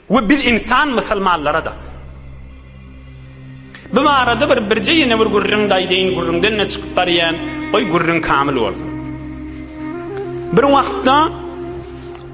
We biz insan musulmanlara-da. Bu barada bir birje ýene bir gürrüň daýdeýin, gürrüňden ne çykyp barýan, goý gürrüň kamil bolsun. Bir wagtda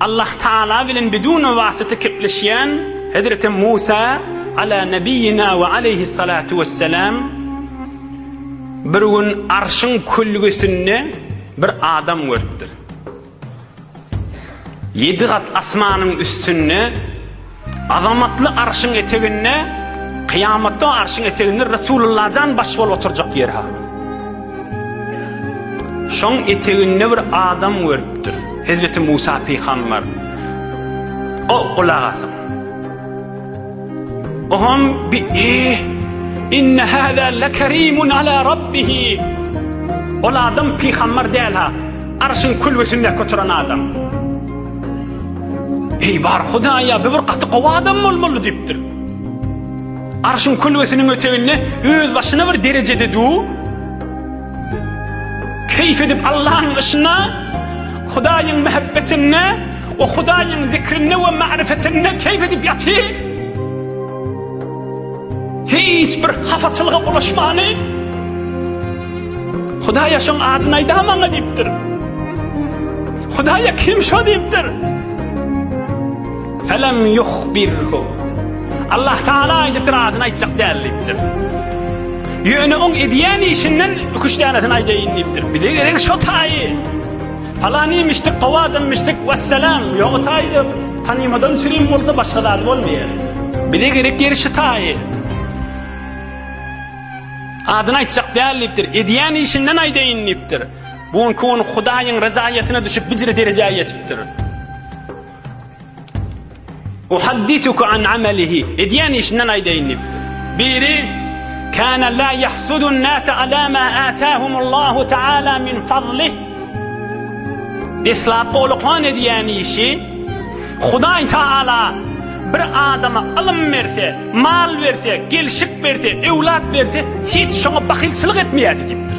Allah Taala bilen bidun wasyta kepleşýän Hazreti Musa ala nebiyina we aleyhi salatu vesselam bir gün arşyň külgesinde bir adam görüpdir. Ýedi gat asmanyň üstünde, azamatly Arşyň eteginde, kyýamatda o Arşyň eteginde Resulullajan baş bolup oturjak ýer ha. Şoň eteginde bir adam görüpdir. Hezreti Musa pygamber. O gulak asyň. Ogam bi eh inne hada lekerimun ala rabbihi Ol adam pygambar däl ha arşyň külbesinde kötüren adam Hey bar hudaýa bir gaty gowy adam bolmaly dipdir Arşyň külbesiniň öteginde öz başyna bir derejede du Keýp edip Allaň yşyna, Hudaýyň mähebbetinde we Hudaýyň zikrinde we magryfetinde keýp edip ýaty. Hiç bir hapaçylyga bulaşmany. Hudaýa şoň adyny aýdamaňa diýipdir. Hudaýa kim şo diýipdir. Felem yuhbirhu. Allah Tagala aýdypdyr, adyny aýtjak däl diýipdir. Ýöne oň edýän işinden iki üç tänesini aýdaýyn diýipdir. Bize geregi şo taýy. Palanyýmişdik, gowy adamymyşdyk, wessalam, ýogy taýda tanymadan sürin bolsa başga zady bolmaýar. Bize gerek ýeri şu taýy. Adyny aýtjak däl diýipdir. Edýän işinden aýdaýyn diýipdir. Bu gün Hudaýyň ryzaýatyna düşüp bijre derejä ýetipdir. Uhaddisuka an amalihi. Edýän işinden aýdaýyn diýipdir. Biri kana la yahsudun nasa ala ma atahumullahu taala min fadlih. Deslap golukan edýän işi Hudaý taala bir adama ylym berse, mal berse, gelşik berse, öwlat berse, hiç şoňa bahylçylyk etmeýär diýipdir.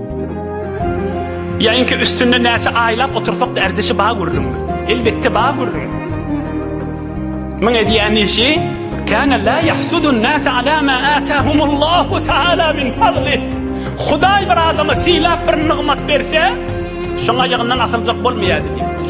Ýaňky üstünde näçe aýlap otursak-da erzişi bar gürrüň. Elbetde bar gürrüň. Muň edýän işi kana la yahsudun nas ala ma atahumullahu taala min fadli. Hudaý bir adama sylap bir nygmat berse, şoň aýagyndan asyljak bolmaýardy diýipdir.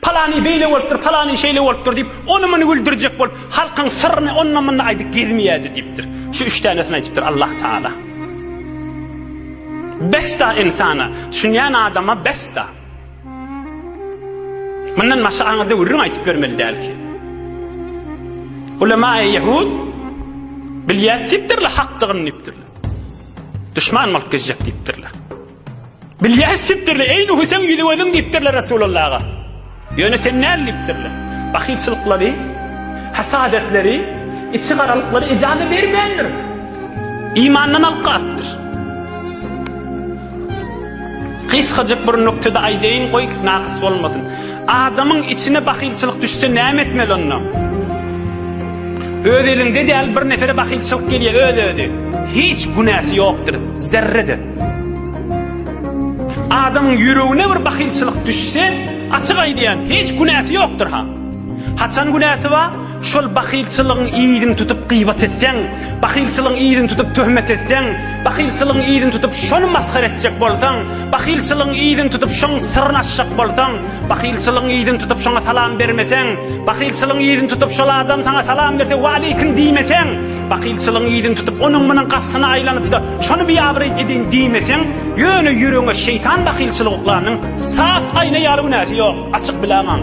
Palany beýle bolupdyr, palany şeýle bolupdyr diýip, ony-muny güldürjek bolup, halkyň syryny onda-munda aýdyp gezmeýärdi diýipdir. Şu üç tänesini aýdypdyr Allah Tagala. Bes-da ynsana, düşünýän adama bes-da. Mundan başga aňyrda gürrüň aýdyp ýörmeli däl ki. Ulemaýy ýehud bilýäs diýipdirler hakdygyny diýipdirler. Duşman bolup gezjek diýipdirler. Bilýäs diýipdirler, Eý, Nuhy, seň ýüzi-gözüň diýipdirler Resulullaha. Ýöne sen näl diýipdirler. Bahylçylyklary, hasadetleri, içigaralyklary ejaza bermändir. Imandan alyp galypdyr. Gysgajyk bir nuktada aýdaýyn, goý, nakys bolmasyn. Adamyň içine bahylçylyk düşse näme etmeli onda? Öz eliňde däl bir nefere bahylçylyk gelýär, öz-özi. Hiç günäsi ýokdur, zerre-de. Adamyň ýüregine bir bahylçylyk düşse, açyk aýdýan, hiç günäsi ýokdur ha. Haçan günäsi bar? Şol bahylçylygyň yzyny tutup gyýbat etseň, bahylçylygyň yzyny tutup töhmet etseň, bahylçylygyň yzyny tutup şony masgara etjek bolsaň, bahylçylygyň yzyny tutup şoň syryny açjak bolsaň, bahylçylygyň yzyny tutup şoňa salam bermeseň, bahylçylygyň yzyny tutup şol adam saňa salam berse waleýkim diýmeseň, Bakylçylygyň yzyn tutup, onuň-munuň gapysyna aýlanyp-da, şony biabraý ediň diýmeseň, ýöne ýüregiňe şeýtan bakylçylygy uklanyň, sap aýna ýaly günäsi ýok, açyk biläňaň.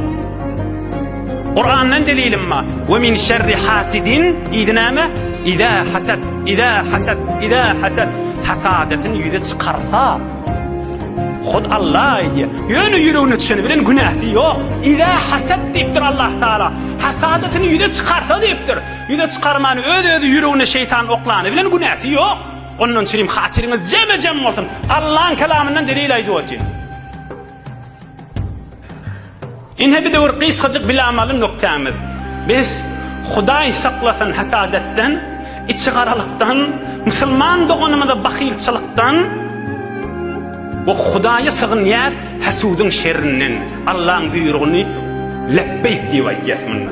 Kurandan delilim ma, Ve min şerri hasidin, yzy näme? Iza hasad, iza hasad, iza hasad, hasadatyn ýüze çykarsa. Hut Allah aýdýar. Ýöne ýüregine düşeni bilen günäsi ýok. Iza hasad diýipdir Allah Taala. Hasadatyn ýüze çykarsa diýipdir. Ýüze çykarman öz özi ýüregine şeýtan oklany bilen günäsi ýok. Ondan çirim hatyryňyz jeme jem bolsun. Allaň kelamyndan delil aýdyp otyryn. Ine bir döwür gysgajyk bilamaly noktämiz. Biz Hudaý saklasyn hasadatdan, içi garalykdan, musulman doganymyza bahylçylykdan we Hudaýa sygynýas hasudyň şerrinden. Allaň buýrugyny lepbeýk diýip aýtýas munda.